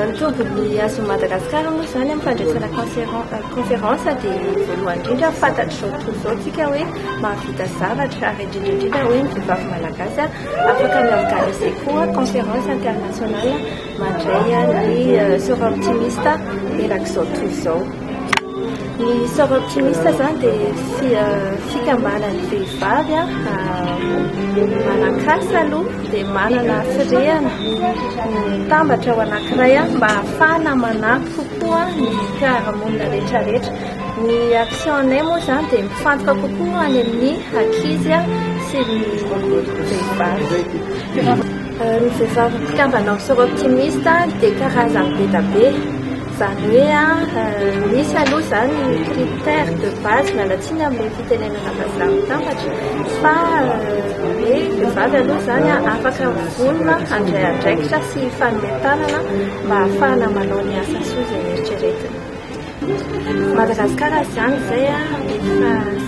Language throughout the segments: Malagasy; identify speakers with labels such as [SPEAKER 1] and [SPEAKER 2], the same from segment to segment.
[SPEAKER 1] Ny tobin'ny Azon'i Madagasikara moa izany amin'ny fandraisana conférence dia voalohany indrindra fantatr'izao tontolo izao isika hoe mahavita zavatra ary indrindra indrindra hoe ny vehivavy malagasy afaka mi-organiser koa conférence internationale mandray ny sera optimiste erak'izao tontolo izao. Ny sort optimiste zany dia fikambanan'ny vehivavy manakasa aloha dia manana firehana mitambatra ao anankiray mba hahafahana manampy kokoa ny fiarahamonina rehetrarehetra. Ny action anay moa zany dia mifantoka kokoa any amin'ny ankizy sy ny vehivavy. Ny vehivavy mpikambana amin'ny sort optimiste dia karazany be dia be. Izany hoe misy aloha izany ny critère de base nalatsina amin'ilay fitenenana vazaha mitambatra fa hoe vehivavy aloha izany afaka vonona handray andraikitra sy hifanome tanana mba hahafahana manao ny asa soa izay eritreretina. Madagasikara izany izay efa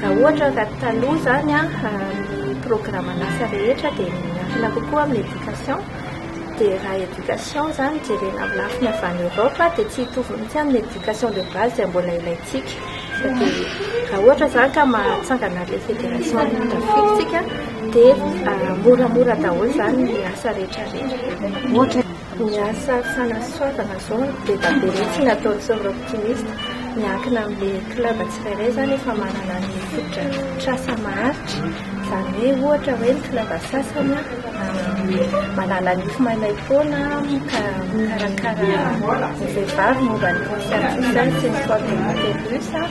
[SPEAKER 1] Raha ohatra ka taloha izany ny programan'asa rehetra dia miankina kokoa amin'ny éducation, dia raha éducation izany jerena amin'ny lafiny avy any Europe dia tsy hitovy mihitsy amin'ny éducation de base izay mbola ilaintsika. Raha ohatra izany ka mahatsangana ilay fédération an'Inona Afrique isika dia moramora daholo izany ny asa rehetra rehetra. Ny asa fanasoavana izao no deba be mihitsy atao Tsôro Optimiste. Miankina amin'ilay club tsirairay izany efa manana ny fotodrafitrasa maharitra. Izany hoe ohatra hoe ny club sasany manala ny fo maimay foana ka mikarakara ny vehivavy momba ny Conscientisation sy ny Sport Inter-Russe.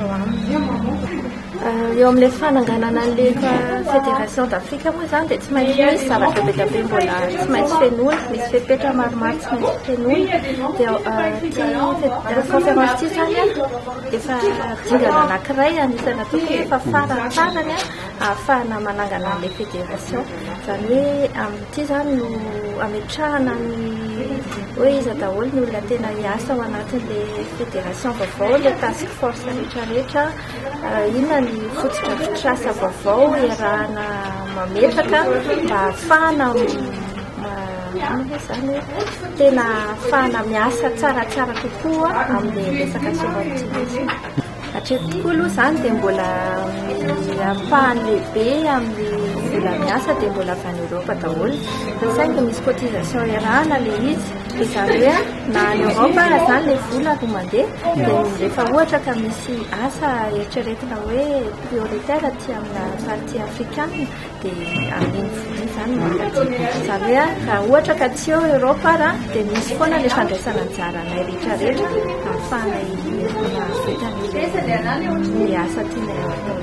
[SPEAKER 1] Eo amin'ilay fananganana an'ilay Fédération d'Afrique moa izany dia tsy maintsy misy zavatra be dia be mbola tsy maintsy fenoina, misy fepetra maromaro tsy maintsy fenoina. Dia ity conférence ity izany efa dingana anankiray anisan'ny atao hoe efa faran'ny farany ahafahana manangana an'ilay fédération. Izany hoe Ity izany no hametrahana ny hoe iza daholo ny olona tena hiasa ao anatin'ilay fédération vaovao, ilay task force rehetra rehetra, inona ny fotodrafitrasa vaovao iarahana mametraka mba hahafahana izany tena hahafahana miasa tsaratsara kokoa amin'ny resaka soavaly tsy misy. Hatreto tokoa aloha izany dia mbola ny ampahany lehibe amin'ny vola miasa dia mbola avy any Europe daholo. Fa saingy misy cotisation iarahana ilay izy. Dia izany hoe na any Europe aza izany ilay vola vao mandeha dia rehefa ohatra ka misy asa eritreretina hoe prioritaire aty amina partie afrikana dia amin'iny vola izany no ampadioviko zany hoe raha ohatra ka tsy eo Europe ara dia misy foana ilay fandraisana anjara anay rehetra rehetra ahafahanay mahavita ny asa tianay atao.